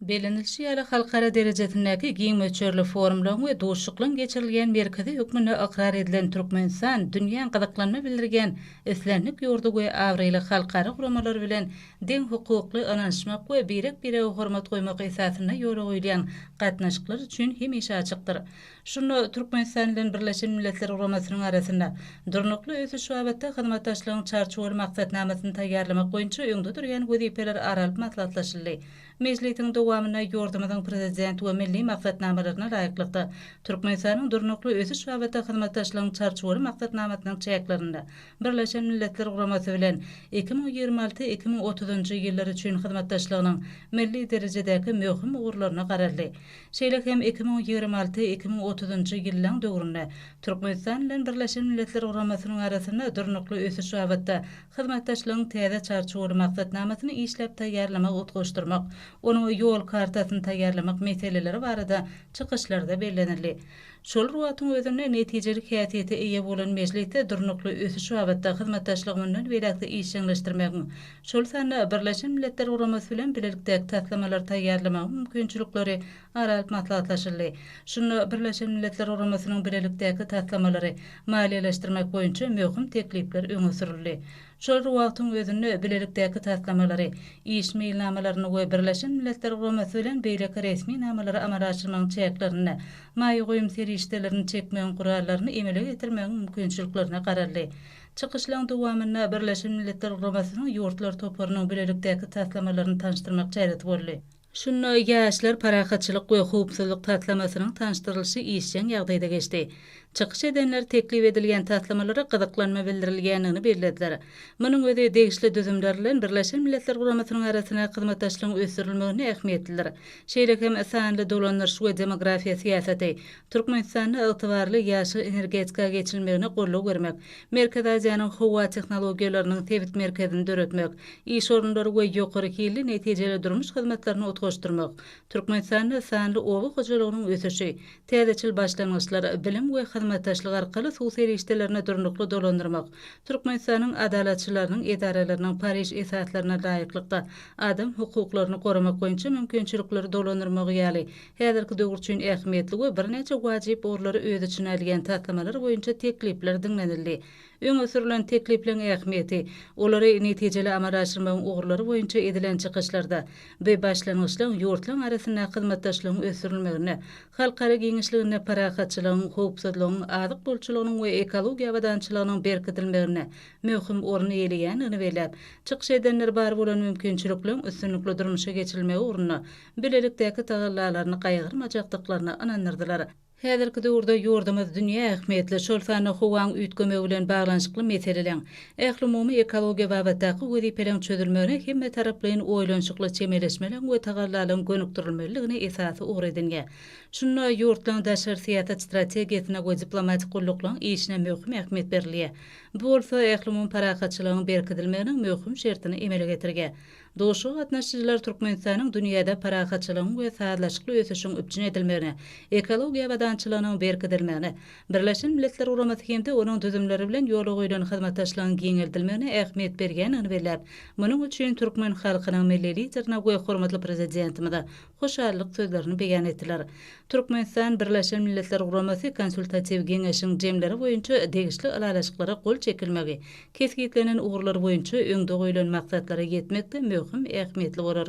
Bellenilişi ýaly, halkara derejesindäki giň möçberli forumlaryň we duşuşyklaryň geçirilýän merkezi hökmünde ykrar edilen Türkmenistan dünýäň gyzyklanma bildirýän islendik ýurdy we abraýly halkara guramalary bilen deňhukukly, ynanyşmak we birek-birege hormat goýmak esasynda ýola goýulýan gatnaşyklar üçin hemişe açykdyr. Şunda Türkmenistan bilen Birleşen Milletler Guramasynyň arasynda Durnukly ösüş babatda hyzmatdaşlygyň Çarçuwaly maksatnamasyny taýýarlamak boýunça öňde durýan wezipeler ara alyp maslahatlaşyldy. Mejlisiň dowamynda ýurdumyzyň Prezidenti we milli maksatnamalaryna laýyklykda, Türkmenistanyň Durnukly ösüş babatda hyzmatdaşlygyň Çarçuwaly maksatnamasynyň çäklerinde Birleşen Milletler Guramasy bilen iki müň ýigrimi alty, iki müň otuzynjy ýyllar üçin hyzmatdaşlygynyň milli derejedäki möhüm ugurlaryna garaldy. Şeýle hem iki müň ýigrimi alty, iki müň otuzynjy ýyllaň döwründe Türkmenistan bilen Birleşen Milletler Guramasynyň arasynda durnukly ösüş babatda hyzmatdaşlygyň täze çarçuwaly maksatnamasyny işläp taýýarlamak utgaşdyrmak, onuň ýol kartasyny taýýarlamak meseleleri barada çykyşlarda bellenildi. Şol wagtyň özünde netijeli häsiýete eýe bolan mejlisde durnukly ösüş babatda hyzmatdaşlygy mundan beýläk-de işjeňleşdirmegiň, şol sanda Birleşen Milletler Guramasy bilen bilelikdäki taslamalary taýýarlamagyň mümkinçilikleri ara alyp maslahatlaşyldy. Şunda Birleşen Milletler Guramasynyň bilelikdäki taslamalary maliýeleşdirmek boýunça möhüm teklipler öňe sürüldi. Şol bir wagtyň özünde bilelikdäki taslamalary, iş meýilnamalaryny we Birleşen Milletler Guramasy bilen beýleki resmi namalary amala aşyrmagyň çäklerinde maýa goýum serişdelerini çekmegiň gurallaryny emele getirmegiň mümkinçiliklerine garaldy. Çykyşlaryň dowamynda Birleşen Milletler Guramasynyň ýurtlar toparynyň bilelikdäki taslamalaryny tanyşdyrmak çäresi boldy. Şunda Ýaşlar parahatçylyk we howpsuzlyk taslamasynyň tanyşdyrylyşy işjeň ýagdaýda geçdi. Çykyş edenler teklip edilýän taslamalara gyzyklanma bildirilýändigini bellediler. Munuň özi degişli düzümler bilen Birleşen Milletler Guramasynyň arasyndaky hyzmatdaşlygyň ösdürilmeginde ähmiýetlidir. Şeýle hem sanly dolandyryş we demografiýa syýasaty, Türkmenistanda ygtybarly ýaşyl energetika geçilmegine goldaw bermek, Merkezi Aziýanyň howa tehnologiýalarynyň sebit merkezini döretmek, iş orunlary we ýokary hilli netijeli durmuş hyzmatlaryny utgaşdyrmak, Türkmenistanda sanly oba hojalygynyň ösüşi, täzeçil başlangyçlar, bilim we hyzmatdaşlyk arkaly suw serişdelerini durnukly dolandyrmak, Türkmenistanyň Adalatçylarynyň edaralarynyň Pariž esaslaryna laýyklykda adam hukuklaryny goramak boýunça mümkinçilikleri dolandyrmagy ýaly Häzirki döwür üçin ähmiýetli we birnäçe wajyp ugurlary öz içine alýan taslamalar boýunça teklipler diňlenildi. Öňe sürlen teklipleriň ähmiýeti, olary netijeli amala aşyrmagyň ugurlary boýunça edilen çykyşlarda bu başlangyçlaryň ýurtlaryň arasyndaky hyzmatdaşlygyň ösdürilmeginde, halkara giňişliginde parahatçylygyň, howpsuzlygyň, azyk bolçulygynyň we ekologiýa abadançylygynyň berkidilmeginde möhüm orun eýeleýändigini belläp, çykyş edenler bar bolan mümkinçilikleriň üstünlikli durmuşa geçirilmegi ugrunda bilelikdäki tagallalaryny gaýgyrmajakdyklaryna ynandyrdylar. Häzirki döwürde ýurdumyz dünýä ähmiýetli, şol sanda howaň üýtgemegi bilen baglanyşykly meseleleň, ählumumy ekologiýa babatdaky wezipeleň çözülmegine hemmetaraplaýyn oýlanyşykly çemeleşmeleň we tagallalaryň gönükdirilmelidigini esasy ugur edinýär. Şunda ýurtlaryň daşary syýasat strategiýasyna we diplomatik gulluklaryň işine möhüm ähmiýet berilýär. Bu bolsa ählumumy parahatçylygyň berkidilmeginiň möhüm şertini emele getirýär. Duşuşyga gatnaşyjylar Türkmenistanyň dünýäde parahatçylygyň we sazlaşykly ösüşiň üpjün edilmegine, ekologiýa abadançylygynyň berkidilmegine, Birleşen Milletler Guramasy hem-de onuň düzümleri bilen ýola goýlan hyzmatdaşlygyň giňeldilmegine ähmiýet berýändigini belläp, munuň üçin türkmen halkynyň Milli Liderine we hormatly Prezidentimize hoşallyk sözlerini beýan etdiler. Türkmenistan Birleşen Milletler Guramasy Konsultatiw geňeşiň jemleri boýunça degişli ylalaşyklara gol çekilmegi kesgitlenen ugurlar boýunça öňde goýlan maksatlara ýetmekde möhüm ähmiýetli bolar.